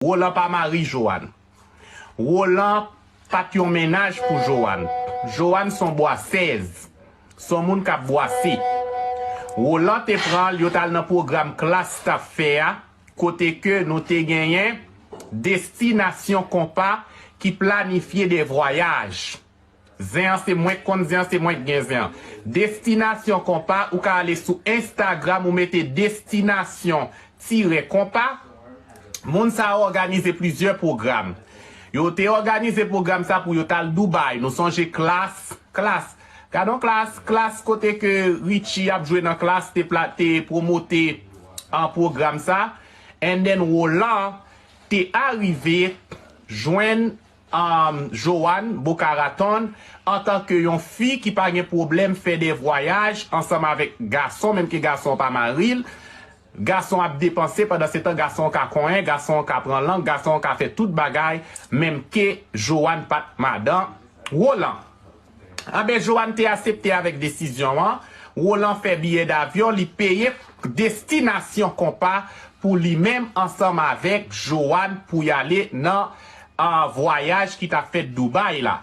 Roland pa mari Joanne. Roland pat yon mennaj pou Joanne. Joanne son bwasèz. Son moun kap bwase. Roland te pran l yo tal nan pwogram klass tap fè a kote ke nou te genyen Desti nasyon konpa ki planifye de vwayaj. Zen an se mwenk konn zen an se mwenk gen zen an destinasyon konpa ou ka ale sou instagram ou mete destinasyon tire konpa moun sa yo òganize plizyè pwogram yo te òganize pwogram sa pou yo tal dubai nou sonje klass klass gadon klass klass kote ke Richie ap jwe nan klass te pla te pwomote an pwogram sa and then Roland te arive jwenn Humm Johanne Boca Raton antan ke yon fi ki pa gen pwoblèm fè de vwayaj ansanm avèk gason menm ke gason an pa mari l, gason an ap depanse pandan se tan gason an ka konyen, gason an ka pran lang, gason an ka fè tout bagay menm ke Johanne pat madan Roland. Anben Johanne te asepte avèk desizyon an, Roland fè biyè davyon li peye destinasyon konpa pou li menm ansanm avèk Johanne pou y ale nan vwayaj ki t ap fèt Dubai la.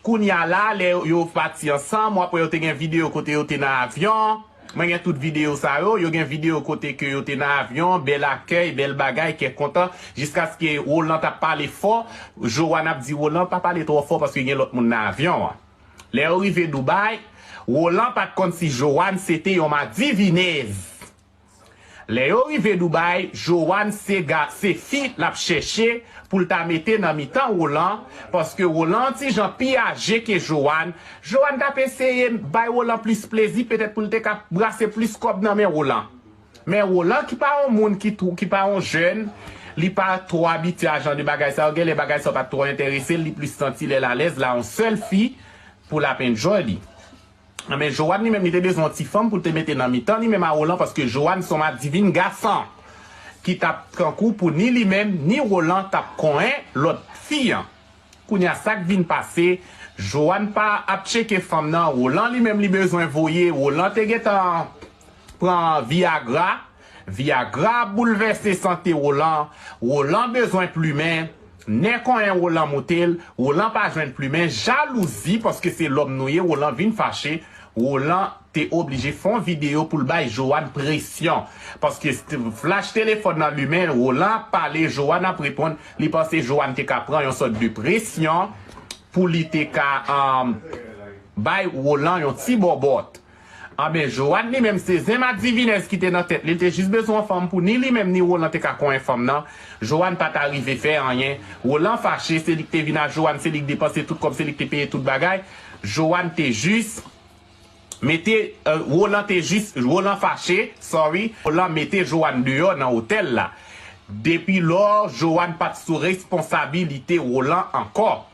Kounya la lè yo pati ansanm ou ap wè yo te gen videyo kote yo te nan avyon an. Mwen gen tout video sa yo. Yo gen video kote ke yo te nan avyon, bèl akèy, bèl bagay, kè kontan. Jiskaske Roland t ap pale fò. Johanne ap di Roland, pa pale twò fò paske gen lòt moun nan avyon an. Lè yo rive Dubaï, Roland pa t konn si Johanne se te yon madivinèz. Lè yo rive Doubay, Johanne se ga se fi l ap chèche pou l ta mete nan mitan Roland, paske Roland an ti jan pi aje ke Johanne, Johanne t ap eseye bay Roland plis plezi petèt pou l te ka brase plis kòb nan men Roland. Men Roland ki pa yon moun ki two ki pa yon jèn, li pa twò abitye a jan de bagay sa yo, genlè bagay sa yo pa t twò enterese l, li plis santi lè l alèz la yon sèl fi pou l ap enjoy li. Men Joanne li menm li te bezwen yon ti fanm pou l te mete nan mitan li menm a Roland paske Joanne se yon madivin gason ki t ap tankou pou ni li menm ni Roland t ap konyen lòt fi an. Kounye a sa k vin pase Joanne pa ap tcheke fanm nan Roland li menm li bezwen voye Roland te gentan pran viagra Viagra ap boulvèse sante Rolan, Rolan bezwen plumen, nè konyen Rolan moutel, Rolan pa jwenn plumen, jalouzi paske se lòm nou ye Rolan vin fache, Rolan te oblije fon video poul bay Joanne presyon paske flash telefòn nan limen Rolan ap pale Joanne ap reponn li panse Joanne te ka pran yon sòt de presyon pou li te ka bay Rolan yon ti bòbòt. Anben, Joanne li menm se zen madivinèz ki te nan tèt li, li te jis bezwen yon fanm pou ni li menm ni Roland te ka konyen fanm nan. Joanne pa ta rive fè anyen. Roland fache, se li ki te vin a Joanne, se li ki depanse tout kòb, se li ki te peye tout bagay. Joanne te jis mete, Roland te jis, Roland fache, sorry, Roland mete Joanne deyò nan otèl la. Depi lò, Joanne pa t sou responsabilite Roland ankò.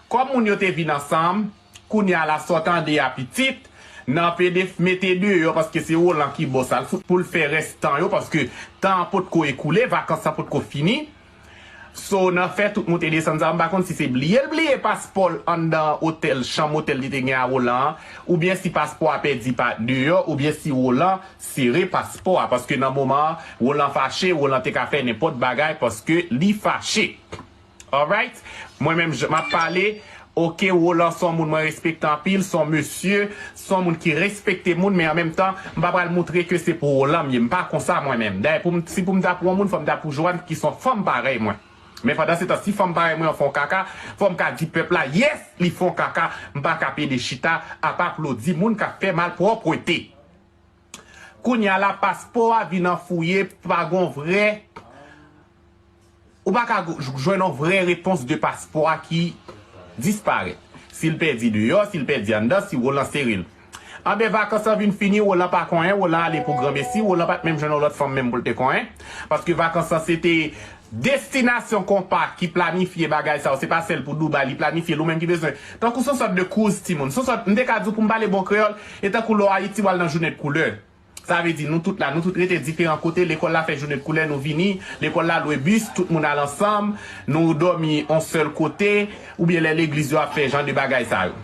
Kòm moun yo te vin ansanm, Kounya la sa w tande a pitit, nan pede f mete deyò paske se Roland ki bo sa l fout pou l fè rès tan yo paske tan an potko ekoule, vakans lan potko fini. So nan fè tout moute desann sa m pa konn si se bliye l bliye paspò l anndan otèl chanm otèl li te gen a Roland an oubyen si paspò a pèdi pa deyò oubyen si Roland sere paspò a paske nan moman an Roland fache Roland te ka fè nenpòt bagay paske li fache. Alright mwen menm jan map pale ok Roland son moun mwen respekte anpil son mesye son moun ki respekte moun men an menm tan m pa pral moutre ke se pou Roland m ye m pa konsa mwen menm dayè pou m si pou m ta pou yon moun fò m ta pou Johanne ki son fanm parèy mwen men pandan se tan si fanm parèy mwen an fon kaka fò m ka di pèp la yes li fon kaka m pa ka pede chita ap aplodi moun kap fè malpwòpwete. Kounya la paspo a vin an fouye pa gon vrè ou pa ka jwenn on vrè repons de paspo a ki disparèt. Si l pèdi deyò, si l pèdi anndan, si Roland sere l. Anben vakans lan vin fini Roland pa konyen, Roland ale pou granmesi, Roland pat menm jwenn on lòt fanm menm pou l te konyen paske vakans lan se te Destinasyon konpa ki planifye bagay sa yo se pa sèl pou Dubai li planifye l ou menm ki bezwen tankou son sòt de cruise timoun son sòt m te ka di w pou m pale bon kreyòl e tankou lè w Ayiti w al nan jounen de koulè sa vle di nou tout la nou tout rete diferan kote lekòl la fè jounen de koulè nou vini lekòl la lwe bis tout moun al ansanm nou dòmi on sèl kote oubyen lè legliz yo ap fè jan de bagay sa yo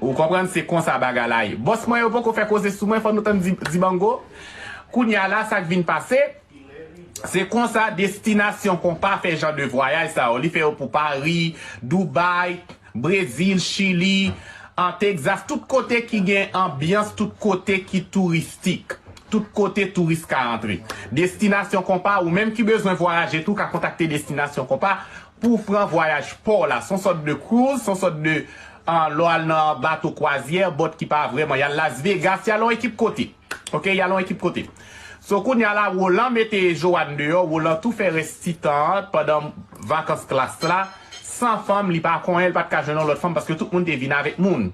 ou konprann se konsa bagay la ye bòs mwen yo poko fè koze sou mwen fò nou tann dibango kounya la sa k vin pase. Se konsa Destinasyon Konpa fè jan de vwayaj sa yo. Li fè yo pou Pari, Doubay, Brezil, Chili, an Tegzas, tout kote ki gen anbyans, tout kote ki touristik, tout kote touris ka antre. Destinasyon Konpa, ou menm ki bezwen vwayaje tou ka kontakte Destinasyon Konpa pou w pran vwayaj pa w la. S on sòt de cruise, s on sòt de, lè w al nan bato kwazyè, bòt ki pa vrèman, y al Las Vegas, y al yon ekip kote. Ok yalon ekip kote. So kounya la Roland mete Johanne deyò Roland tou fè rès ti tan an pandan vakans klas la san fanm li pa konyen li pat ka jwenn yon lòt fanm paske tout moun te vin avèk moun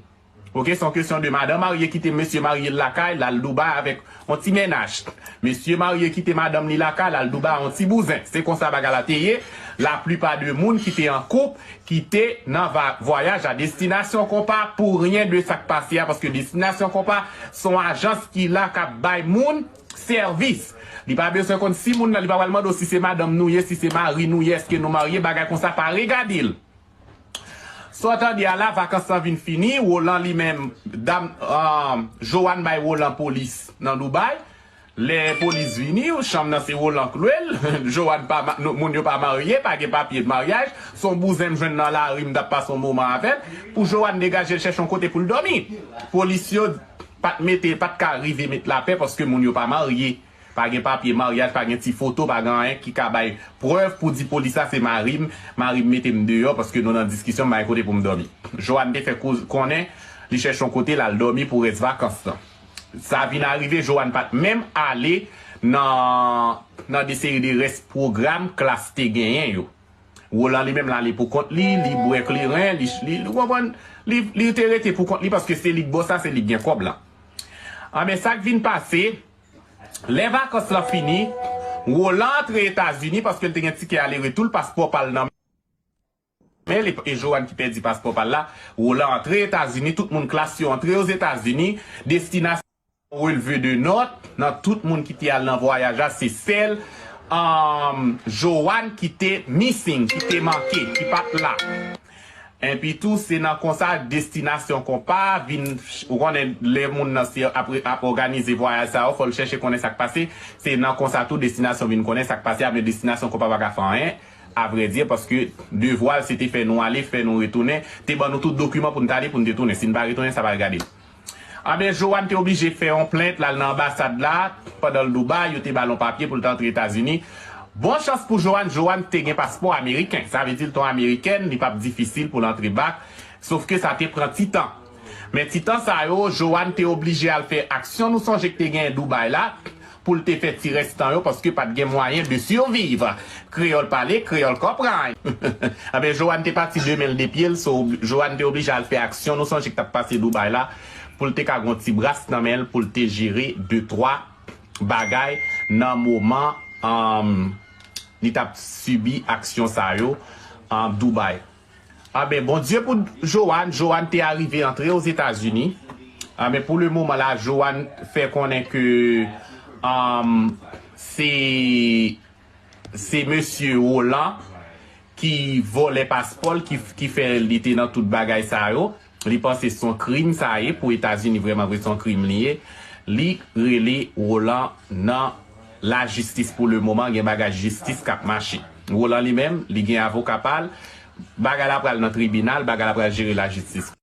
ok se yon kesyon de madan marye kite mesye marye l lakay lal Dubai avèk yon ti mennaj mesye marye kite madanm li lakay lal Dubai yon ti bouzen se konsa bagay la te ye la plipa de moun ki te an koup Kite nan va vwayaj a destinasyon konpa pou ryen de sak pase a paske destinasyon konpa son ajans ki la kap bay moun sèvis li pa beswen konn si moun nan li pa pral mande w si se madanm nou ye si se mari nou ye eske nou marye bagay konsa pa regade l sa w tande a la vakans lan vin fini Roland li menm dam Johanne bay Roland polis nan Dubai Lè polis vini yo chanm nan se Roland k lwe l Johanne pa moun yo pa marye pa gen papye de maryaj s on bouzen m jwenn nan lari m t ap pase yon moman avè l pou Johanne degaje l chèche yon kote pou l dòmi Polis yo pa t mete pa t ka rive met lapè paske moun yo pa marye pa gen papye maryaj pa gen ti foto pa gen anyen ki ka bay prèv pou di polis la se mari m mari m mete m deyò paske nou nan diskisyon m pa gen kote pou m dòmi Johanne te fè konnen li chèche yon kote l al dòmi pou rès vakans lan. Sa vin arive Johanne pa t menm ale nan nan de seri de rès pwogram klas te genyen yo. Roland li menm l ale pou kont li, li bwè kleren, li li ou konprann, li li te rete pou kont li paske se li k bòs la, se li k gen kòb la. Anben sa k vin pase, lè vakans lan fini, Roland antre Etazini paske l te gen tikè ale retou l, paspò pa l nan. Men li e Johanne ki pèdi paspò pal la, Roland antre etazini tout moun klas yo antre ozetazini, destinasyon yo releve de nòt, nan tout moun ki te al nan vwayaj la se sèl humm Johanne ki te missing ki te manke ki pat la enpi tou se nan konsa destinasyon konpa vin ou konnen lè moun nan se ap òganize vwayaj sa yo fòl chèche konnen sak pase se nan konsa tou destinasyon vin konnen sak pase a men destinasyon konpa paka fè anyen. Avredye, paske devwa l se te fè nou ale, fè nou retounen, te ban nou tout dokiman pou n t ale, pou n te tounen. Si n pa retounen, sa pa regadel. Anben, Joan te oblije fè yon plent, l al nan anbasad la, pandan l Dubai, yo te ba l yon papye pou l t antre Etazini. Bon chans pou Joan, Joan te gen paspò ameriken. Sa vle di l t yon amerikèn, li pa p difisil pou l antre bak, sofke sa te pran ti tan. Men ti tan sa yo, Johanne te oblije al fè aksyon nou sonje k te genyen Dubai la, pou l te fè ti rès tan yo paske pa t gen mwayen de survivre. Kreyòl pale, kreyòl konprann! Anben, Johanne te pati de men l de pye l, so Johanne te oblije al fè aksyon nou sonje k t ap pase Dubai la, pou l te ka gon ti bras nan men l pou l te jere de twa bagay nan moman li t ap sibi aksyon sa yo an Dubai. Amen bon Dieu pou Joanne, Joanne te arive antre aux Etats Unis amen pou le moman la Joanne fè konnen ke um se se mesye Roland ki vòlè paspòl ki fè li te nan tout bagay sa yo. Li panse son krim sa ye pou etazini vreman vre son krim li ye li rele rolan nan la jistis pou le moman gen bagay jistis kap mache rolan li menm li gen avoka pal bagay la pral nan tribinal bagay la pral jere la jistis.